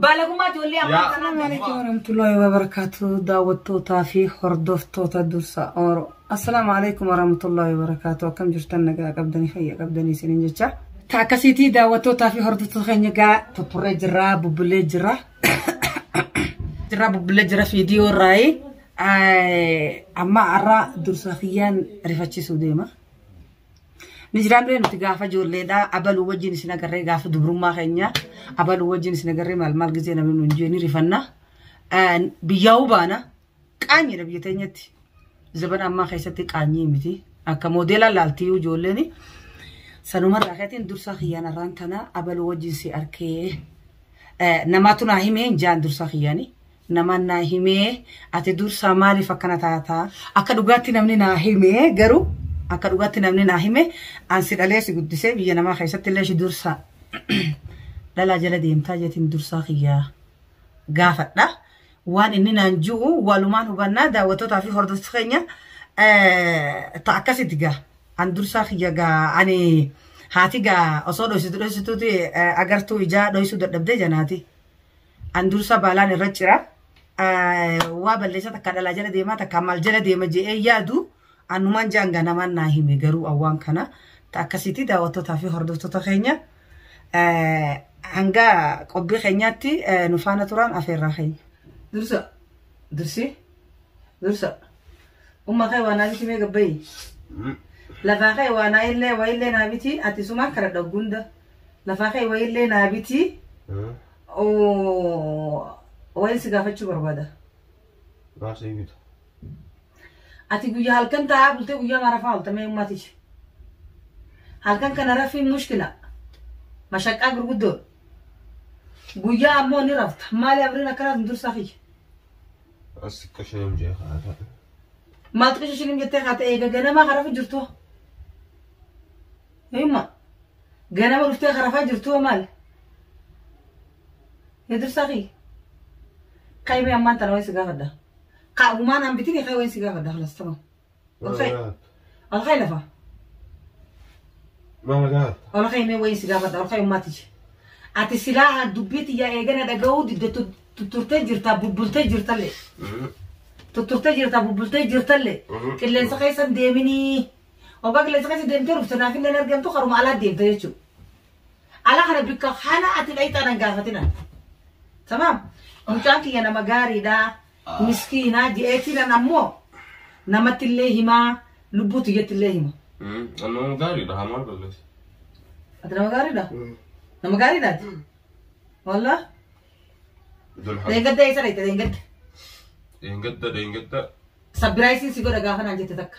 Baalagummaa ijoollee ammaa Yaa. kanaa Assalamu alaikum warahmatullahi wabarakatuh daawwattootaa fi hordoftoota dursa oro Assalamu alaikum warahmatullahi wabarakatuh akkam jirtan nagaa qabdanii fayya qabdanii isiniin jecha ta akkasiitii daawwattootaa fi hordoftoota keenya gaa tuturree jirraa bubbulee jirra jirraa bubbulee jira fiidiyoo irraayi amma arraa dursa kiyyaan rifachiisuu deema Ni jiraan ree nuti gaafa ijoolleedhaa abaluu wajjin isin agarree gaafa dubrummaa keenya abaluu wajjin isin agarree maal maal gizee namni nuun jee ni rifanna. Biyyaa'uu baana qaanyiidha biyya teenyatti. Zabana ammaa keessatti qaanyii miti. Akka moodeelaa laaltiyyuu ijoolleen sanumarraa keetiin dursaa kiyyaan irraan tana abaluu wajjin si arkee namaatu naa himee hin jaan dursaa kiyyaanii. Namaan naa himee ati dursaa maaliif akkana taata? Akka dhugaatti namni naa hime garuu akka dhugaatti namni naa hime an si dhalee si guddisee biyya namaa keessatti illee si dursaa dhalaa jala deemtaa jetiin dursaa kiyyaa gaafadha. Waan inni naan ji'u walumaan hubannaa daawwattootaa fi hordoftu keenya ta akkasitti gaa an dursaa kiyya gaa ani haati gaa osoo dhoysitu dhoysituuti agartuu ijaa dhoysuu dadhabdee janaati. An dursa baalaan irra cira. Waa balleessa takka dhalaa jala deemaa takka maal jala deema je'ee yaadu anumaan jaan ganamaan naa hime garuu awwaan kana ta akkasiitii daawwattootaa fi hordoftoota keenya hanga qophii keenyaatti nu faana turaan afeerraa keenya. Dursa dursi dursa umma kee waa naa biti mee gabbayii lafaa kee waa naa illee waa illee naa biti ati sumaan kana dhaggunda lafaa kee waa illee naa biti Wayin si gaafachuu barbaada. Gaafsa hin bitu. Ati guyyaa halkan taa'aa bultee guyyaa marafaa oolta mee ummatichi. Halkan kana rafiin mushkila. Mashaqqaa gurguddoodha. Guyyaa ammoo ni rafta. Maali abriin akkanaaf hin dursaa kiyya. As qashiram jee kaata. Maaltu qishishinim jettee kaata eega ganamaa harafu jirtu. Hima. Ganama dhuftee karafaa jirtu hoo maali? Yaa dursaa kee. Qaymee ammaan tana waan si gaafadha. Qaagumaan aan bitini kee waan si gaafadha kalas tamam. Alkee. Alkee lafa. Maal gaafata? Alkee mee waan si gaafadha alkee ummaati je. Ati silaa dubbii tiyyaa eegana dhaga'uu didda tu- tutturtee jirtaa bubbultee jirtallee. Tutturtee jirtaa bubbultee jirtallee. Qilleensa keessan deeminii. Obbaa qilleensa keessa deemtee dhufte naaf hin argamtu karuma alaa deemta jechuudha. Ala kana bikka haala ati dhayxaa nan gaafatina. Tamaam. Mucaan kiyya nama gaariidha. Miskiina je'eetii nan ammoo namatti illee himaa lubbuu tiyyatti illee hima. Nama gaariidha haa maal balleessa. Ati nama gaariidha? Nama gaariidha ati? Wallah? Idul Hamd. Deengadda eessa dhayxe deengadda? Deengadda deengadda. Sabbiraayisiin si godha gaafa naan jette takka.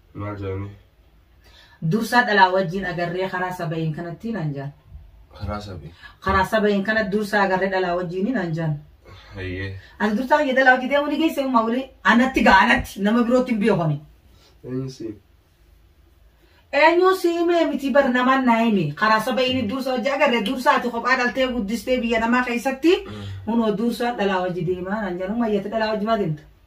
Maal jedhanii? Dursaa dhalaa wajjin agarree karaa saba'iin kanatti naan jaan. Karaa sabii. Karaa saba'iin kana dursaa agarree dhalaa wajjin naan jaan. Hayyee. Ati dursaa kiyya dhalaa wajjin deemuu ni geessee ummaa waliin anatti ga'a anatti nama birootti hin beekoni. Eenyu siin? Eenyuu si himee miti bar namaan naa himi. Karaa saba'iin dursaa wajjin agarree dursaa ati kophaa dhaltee guddistee biyya namaa keessatti hunoo dursaa dhalaa wajjin deemaa naan jaan ummaa iyyatti dhalaa wajjin maa deemta?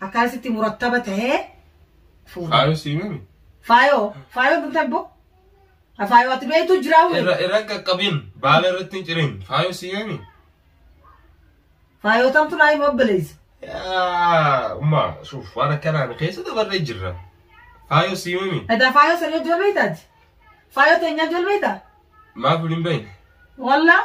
akkaan sitti murattaba tahee fuudhe. Faayoo sii mimi. Faayoo faayoo dugda bbo. Faayoo ati beektu jiraa wuri. Irra irra hin qaqqabin. Baala irratti hin cirin. Faayoo sii mimi. Faayoo tamtu naa hima obboleessa. Yaa umma suuf waan akkanaan keessa dabarree jirra. Faayoo sii mimi. Edaa faayoo sanii ijoollee taati. Faayoo teenyaa ijoollee taati. Maaf hin beekne. Wallah.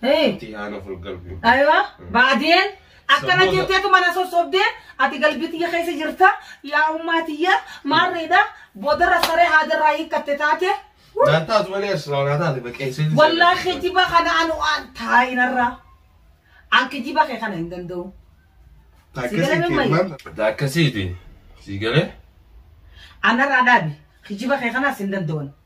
Hey. Ati haana ful galbi. Aywa, baadiyeen akkana Saboota. jetteetu mana sossobdee ati galbii tiyya keessa jirta yaa ummaa tiyya maarreedha boodarra saree haadarraa hiikkatte taate Naan taatu malee asirraa naa taate baqeessee. wallaa kijiba kana anu an taa'inarra an kijiba kee kana hin danda'u Akkasiiti. Sii galee? anarraa dhaabi kijiba kee kanas hin danda'u